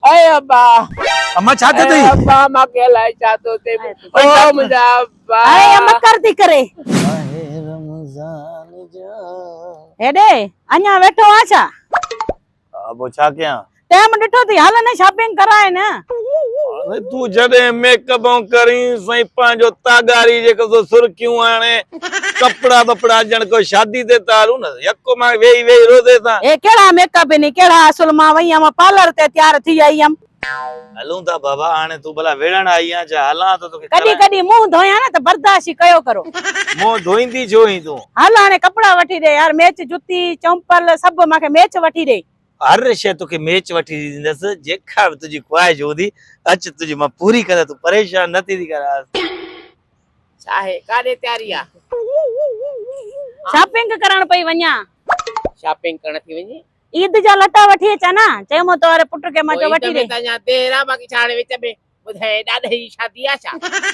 اي ابا اما ڇا ٿيو اٿئي. اي ابا مان کي الائي ڇا ٿو ٿئي او منهنجا ابا. اي اما ڪر ٿي ڪري. ماه رمضان جا. هيڏي اڃا ويٺو آن ڇا. ها پو ڇا ڪيان. ٽيم ڏٺو ٿي هل نه شاپنگ ڪرائي نه. تون جڏهن ميڪ اپ ڪرين سائين پنهنجو تاڳاري جيڪو سو سرخيون هڻي. ڪپڙا ٻپڙا ڄڻ ڪو شادي تي تيار هون نه يڪو مان ويهي ويهي روزي سان. هي ڪهڙا ميڪ اپ هين ڪهڙا اصل مان وئي هيم پارلر تي تيار ٿي آئي هيم. هلون ٿا بابا هاڻي تون ڀلا وڙهڻ آئي آهين ڇا هلان ٿو توکي ڪڏهن کارائڻ. ڪڏهن منهن ڌويان نه ته برداشت ئي ڪيو ڪرو. منهن ڌوئيندي ڇو هين تون. هل هاڻي ڪپڙا وٺي ڏي يار ميچ جتي چمپل سڀ مان کي ميچ وٺي ڏي. هر شيء توکي ميچ وٺي ڏيندس جيڪا به تنهنجي خواهش هوندي اچ تنهنجي مان پوري ڪندس تون پريشان نه ٿيندي ڪر آس. آهي ڪاڏي تياري آ. شاپنگ ڪرڻ پئي وڃان. شاپنگ ڪرڻ ٿي وڃي. عيد جا لٽا وٺي اچان ها. چيومون تو واري پٽ کي مان چيو وٺي ڏي. عيد ۾ ته اڃان دير آ باقي ڇا هاڻي وچ ۾ ٻڌايئي ڏاڏي جي شادي آ ڇا.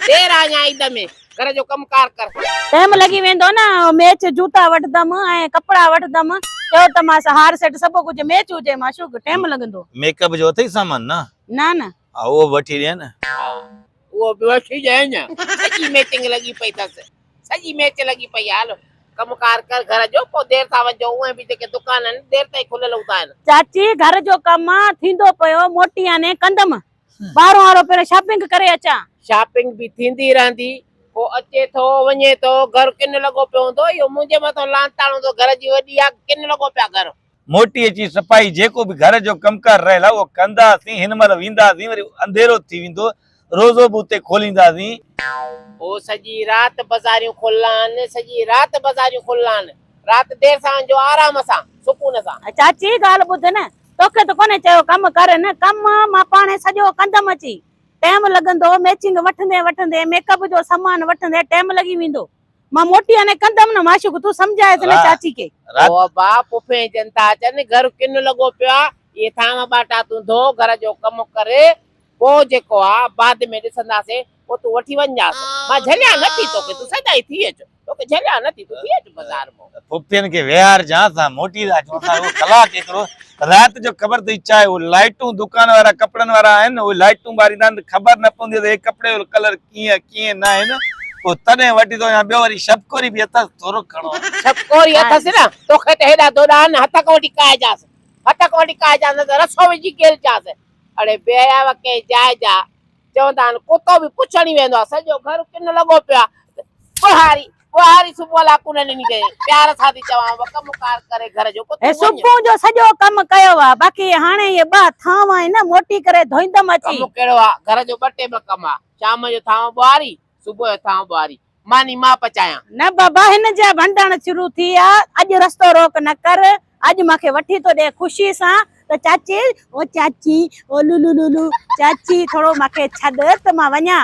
دير آ اڃان عيد ۾ گهر جو ڪم ڪار ڪر. ٽيم لڳي ويندو نه ميچ جوتا وٺدم ۽ ڪپڙا وٺدم چيو ته مانس هار سيٽ سڀ ڪجهه ميچ هجي معشوق ٽيم لڳندو. ميڪ اپ جو اٿئي سامان نه. نه نه. ها اهو به وٺي ڏينء نه. ها اهو به وٺي ڏينء نه. سڄي ميٽنگ لڳي پئي اٿس. سڄي ميچ لڳي پئي آهي. هل ڪم ڪار ڪر گهر جو. پوء دير سان وڃجو. اونئين به جيڪي دڪان آهن دير تائين کليل هوندا آهن. چاچي گهر جو ڪم ٿيندو پيو موٽي آني ڪندم. ٻاهرون وارو پهريون شاپنگ ڪري اچان. شاپنگ به ٿيندي رهندي. ڪو اچي ٿو وڃي ٿو. گهر ڪن لڳو پيو هوندو. اهو منهنجي مٿان لعنتاڻ هوندو گهر جي وڏي آ ڪن لڳو پيو آ گهر. موٽي اچي سپاهي جيڪو به گهر جو ڪم ڪار رهيل آهي اهو ڪنداسين هن مهل وينداسين وري انڌيرو ٿي ويندو روزو به اتي کولينداسين. هو سڄي رات بزاريون کولان سڄي رات بزاريون کولان رات دير سان ونجو آرام سان سڪون سان. چاچي ڳالهه ٻڌ نه توکي ته ڪونهي چيو ڪم ڪر نه ڪم مان پاڻهي سڄو ڪندم اچي ٽيم لڳندو ميچنگ وٺندي وٺندي ميڪ اپ جو سامان وٺندي ٽيم لڳي ويندو. مان موٽي آني ڪندم نه معشوق تون سمجهائي سين چاچي کي. رات. او ابا پڦين جن ٿا اچن گهر ڪن لڳو پيو آ اهي ٿانو ٻاٽا تون ڌو گهر جو ڪم ڪر پوء جيڪو آ بعد ۾ ڏسنداسين پوء تون وٺي وڃجانس مان جهليان نه ٿي توکي تون سدائين ٿي اچ توکي جهليان نه ٿي تون ٿي اچ بازار مون. پڦين کي ويهار جانس آ موٽي ٿا اچون اسان رڳو ڪلاڪ ايترو رات جو خبر ٿي چاهي اهي لائٽون دڪان وارا ڪپڙن وارا آهن اهي لائٽون ٻاريندا آهن ته خبر نه پوندي ته هي ڪپڙي جو ڪلر ڪيئن ڪيئن نه آهن پوء تڏهن وٺي ٿو وڃان ٻيو وري شبڪوري به اٿس ٿورو گهڻو آهي. شبڪوري اٿس نه توکي ته هيڏا دوڏا آهن هتڪ وٺي ڪاهجانس هتڪ وٺي ڪاهجانس نه ته رسو وجهي گهلجانس اڙي بي حياء ڪنهن جاء جا چوندا آهن ڪتو به پڇڻ ئي ويندو آهي سڄو گهر ڪن لڳو پيو آهي ٻهاري ٻهاري صبح لا ڪونه ڏني ڪئي پيار سان ٿي چوان وڪ ڪم ڪار ڪري گهر جو پوء تون وڃ صبح جو سڄو ڪم ڪيو آ باقي هاڻي اهي ٻه ٿانو آهن نه موٽي ڪري ڌوئيندم اچي. ڪم ڪهڙو آ گهر جو ٻه ٽيم ڪم آ شام جو ٿانو ٻهاري صبح جو ٿانو ٻهاري ماني مان پچايان. نه بابا هن جا ڀنڊڻ شروع ٿي آ اڄ رستو روڪ نه ڪر اڄ مان کي وٺي ٿو ڏي خوشي سان ته چاچي او چاچي او لولولولو چاچي ٿورو مان کي ڇڏ ته مان وڃان.